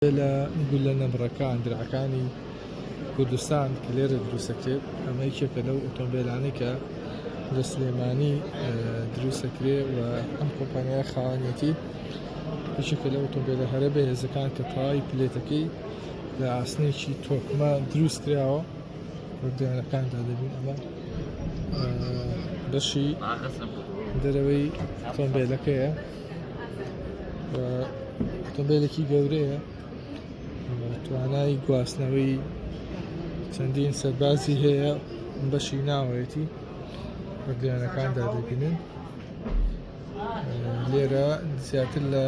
لە گوللە نەبڕەکان درعەکانی کوردستان کە لێرە دروستەکرێت ئەمە یەکێکە لەو ئۆتۆمبێلانەی کە لە سلێمانی دروستەکرێ و ئەم کۆمپانیا خاوەنێتی یەکێکە لە ئۆتۆمبێلە هەرە بەهێزەکان کە تەواوی پلێتەکەی لە ئاسنێکی تۆکمە دروست کراوە وردیانەکاندا دەبین ئەمە بەشی دەرەوەی ئۆتۆمبێلەکەیە ئۆتۆمبێلێکی گەورەیە توانای گواستنەوەی چەندین سەربازی هەیە بەشی ناوەیەتی بە درێنەکاندا دەبینن لێرە زیاتر لە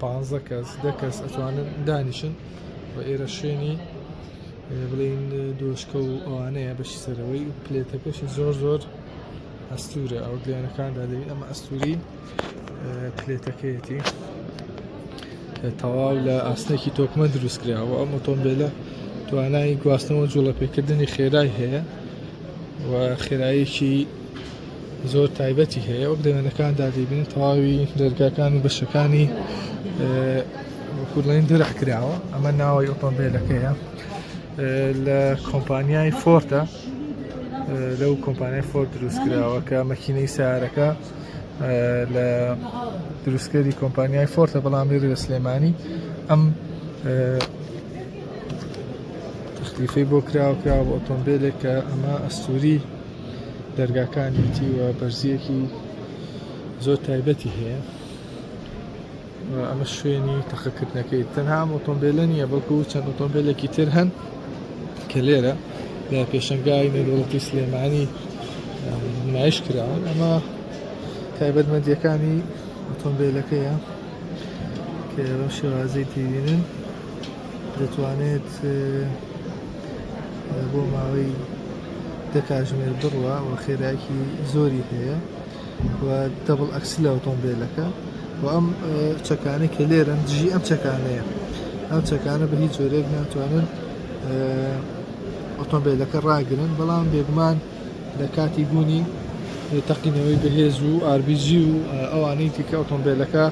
پ کەس دە کەس ئەتوانن دانیشن و ئێرە شوێنی بڵین دۆشکە و ئەوانەیە بەشی سەرەوەی پلێتەکەشی زۆر زۆر ئەستورە ئەو دیانەکاندا دەبین ئەمە ئەستوری پلێتەکەیەتی کە تەواو لە ئاسنێکی تۆکمە دروستکراوە ئەم ئۆتۆمبیلە توانای گواستنەوە جوڵەپێکردنی خێرای هەیە و خێرایەکی زۆر تایبەتی هەیە وەک دەوێنەکان دادیبین تەواوی دەرگاکان و بەشەکانی وەکوڵین درع کراوە ئەمە ناوەی ئۆتۆمبیلەکەیە لە کۆمپانیای فۆرتە لەو کۆمپانیای فۆر دروستکراوە کە مەکینەی سارەکە لە دروستکەری کۆمپانیای فۆرتە بەڵام لێرە لە سلێمانی ئەم تەختیفەی بۆ کراوە کراوە بە ئۆتۆمبیلێک کە ئەمە ئەستوری دەرگاکانیتی و بەرزیەکی زۆر تایبەتی هەیە ئەمە شوێنی تەقەکردنەکەی تەنها ئەم ئۆتۆمبیلە نییە بەڵکو چەند ئۆتۆمبیلێکی تر هەن کە لێرە لە پێشنگای نێرۆڵەتی سلێمانی نمایش کراون ئەمە تایبەتمەندیەکانی ئۆتۆمبیلەکەیە کە ئێوە شێوازی تیبینن دەتوانێت بۆ ماوەی دە کاژمێر بڕوە و خێراکی زۆری هەیە و دەبڵ ئەکسلی ئۆتۆمبێلەکە و ئەم چەکانە کە لێرەن دژی ئەم چەکانەیە ئەم چەکانە بە هیچ جۆرێک ناتوانن ئۆتۆمبیلەکە ڕاگرن بەڵام بێگومان لە کاتی بوونی تەقینەوەی بەهێز و RBG و ئەوانەی تیکە ئۆتۆمبیلەکە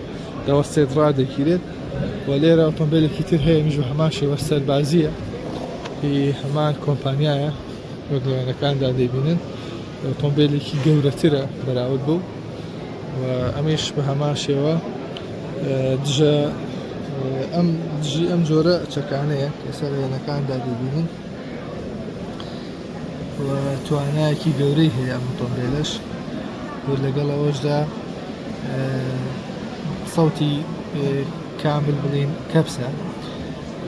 دەوەستێت ڕادەگیرێت و لێرە ئۆتۆمبیلێکی تر هەیە میژ هەمان شێوە سەربازیە هەمان کۆمپانیایە وەگوێنەکاندا دەبینن ئۆتۆمبێلێکی گەورەترە بەراورد بەو و ئەمەیش بە هەمان شێوە دژە ئەم دژی ئەم جۆرە چەکانەیە ئێستا لە وێنەکاندا دەبینین توانایەکی گەورەی هەیە ئەم ئۆتۆمبێلەش لەگەڵ ئەوەشدا سەوتی کامل بڵین کەپسە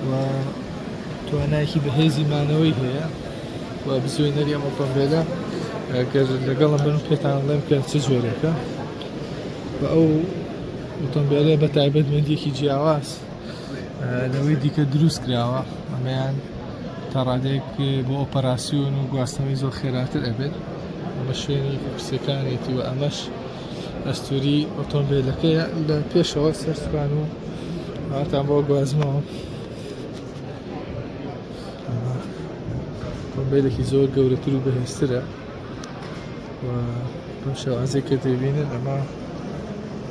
و توانایکی بەهێزی مانەوەی هەیە و بزوێنەری ئەم ئۆتۆمبێلە گەر لەگەڵم بن پێتان بڵێم کە چ جۆرێکە و ئەو ئۆتۆمبێلە بە تایبەت مندێکی جیاواز لەوەی دیکە دروست کراوە ئەمەیان تا ڕادێک بۆ ئۆپەراسیۆن و گواستنەوەی زۆر خێراتر ئەبێت ئەمە شوێنی قسەکانێتی و ئەمەش ئەستوری ئۆتۆمبیلەکە لە پێشەوە سەرسوان و هاتان بۆ گوازمەوە مۆبایلێکی زۆر گەورەتر و بەهێزترە و ئەم شێوازێک کە دەبینن ئەمە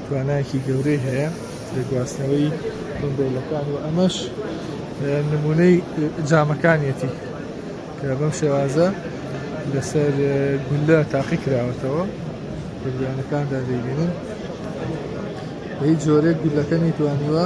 توانایەکی گەورەی هەیە لە گواستنەوەی مۆبایلەکان و ئەمەش نمونەی جامەکانیەتی کە بەم شێوازە لەسەر گولە تاقی کراوەتەوە بەگویانەکاندا دەبینن هیچ جۆرێک گولەکە نیتوانیوە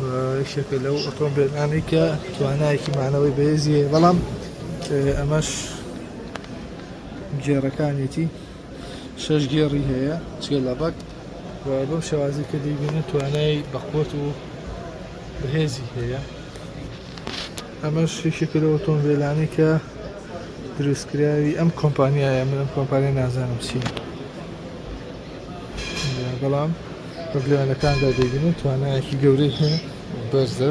و یەکێکە لەو ئۆتۆمبێلانەی کە توانایەکی مانەوەی بەێزی هەیە بەڵام ئەمەش گێڕەکانێتی شەش گێڕی هەیە چێ لە ڕەک و بەم شێوازی کە دەیبینە توانای بەخۆت و بەهێزی هەیە ئەمەش یەکێکە لە ئۆتۆمبێلانەی کە دروستکراوی ئەم کۆمپانیایە من ئەم کۆمپانیای نازانم چی. بەڵام بە بلیمەتەکاندا دەیبینن توانایەکی گەورەی هەیە بەرزە.